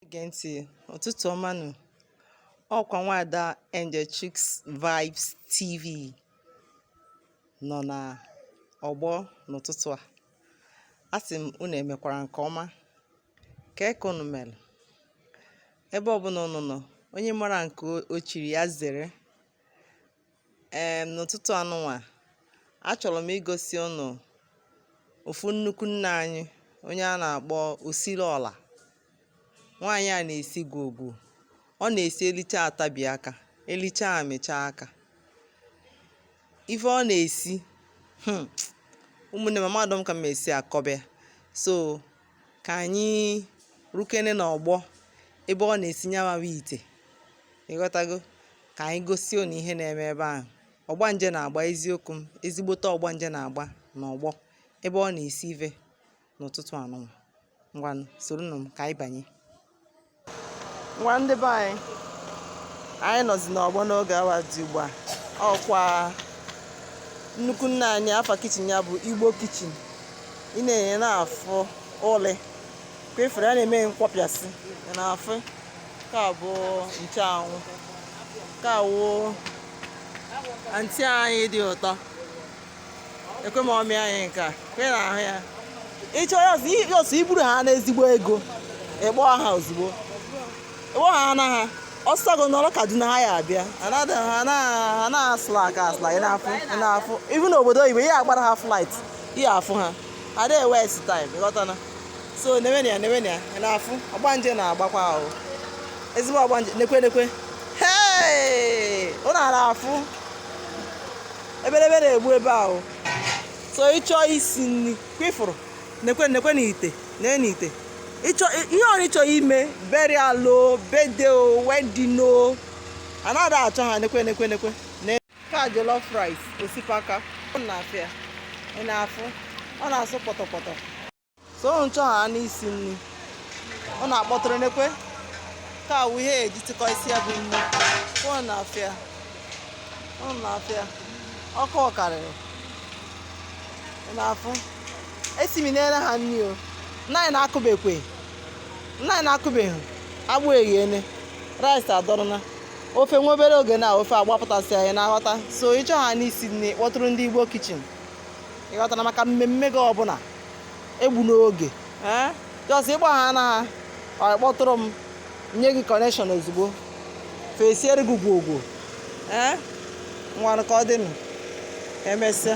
na-ege ntị ụtụtụ ọma nụ ọkwa nwaada Angel Chicks Vibes TV nọ na ọgbọ n'ụtụtụ a asị m unu emekwara nke ọma kee ka unu mere ebe ọbụla unu nọ onye mara nke o chiri ya zere ee n'ụtụtụ anụnwa achọrọ m igosi unu ofu nnukwu nne anyị onye a na-akpọ osiri ọla nwaanyị a na-esi gwogwo ọ na-esi elicha atabi aka elicha amịcha aka ife ọ na-esi hmm, ụmụnne m amadọ m ka m esi akọba ya so ka anyị rukene n'ọgbọ ebe ọ na-esi nyawawa ite ịghọtago ka anyị gosi unu ihe na-eme ebe ahụ ọgbanje na-agba eziokwu m ezigbote ọgbanje na-agba n'ọgbọ ebe ọ na-esi ive n'ụtụtụ anụnwa ngwanụ soronụ m ka anyị banye ngwa ndị be anyị anyị nọzi n'ọgbọ n'oge awa dị ugbu a ọkwa nnukwu nne anyị afa kichin ya bụ igbo kichin ị na-enye na-afụ ụdị kwa efere a na-eme nkwọpịasị ị na-afụ ka bụ ncheanwụ ka wụ antị anyị dị ụtọ ekwe mọmị anyị nke a kwe na ahụ ya ịchọ ya ọsọ iburu ha n'ezigbo ego ịkpọ ha ozugbo ịkpọ ha na ha ọsọgo nọrọ Kaduna ha ya abịa ha na-aslack aslack ị na-afụ ị na-afụ even n'obodo oyibo ị ya-agbara ha flight ị ya-afụ ha ada ewaste time ịghọtana so newenụ ya newenụ ya ị na-afụ ọgbanje na-agbakwa ahụ ezigbo ọgbanje nekwe nekwe hee unu na-afụ ebelebe na-egbu ebe ahụ so ịchọ isi nri kwefụrụ nekwe nekwenụ ite na n'ite ịchọ ihe ọrụ ịchọ ime burial o birthday o wedding o anaghị achọ ha nekwe nekwe nekwe ka jollof rice osikapa ọ na-afịa ị na-afụ ọ na-asụ pọtọpọtọ so unu chọọ ha n'isi nri unu akpọtụrụ nekwe kaa wụ ihe eji tịkọ isi ya bụ nri ọ na-afịa ọ na-afịa ọkụ ọ karịrị na-afụ esiminere ha nri o nnaanyị na-akụbekwe nnaanyị na-akụbeghị agbụ eghene rice adọrọna ofe nwa obere oge na ofe agbapụtasịa ị na-aghọta so ịchọ ha n'isi nri kpọtụrụ ndị igbo kichin ịghọtana maka mmemme gị ọbụla egbuna oge ee jọs ịgba ha na ha kpọtụrụ m nye gị kọnekshọn ozugbo fa esiere gị gwogwo ee ngwanụ ka ọ dịnụ emesịa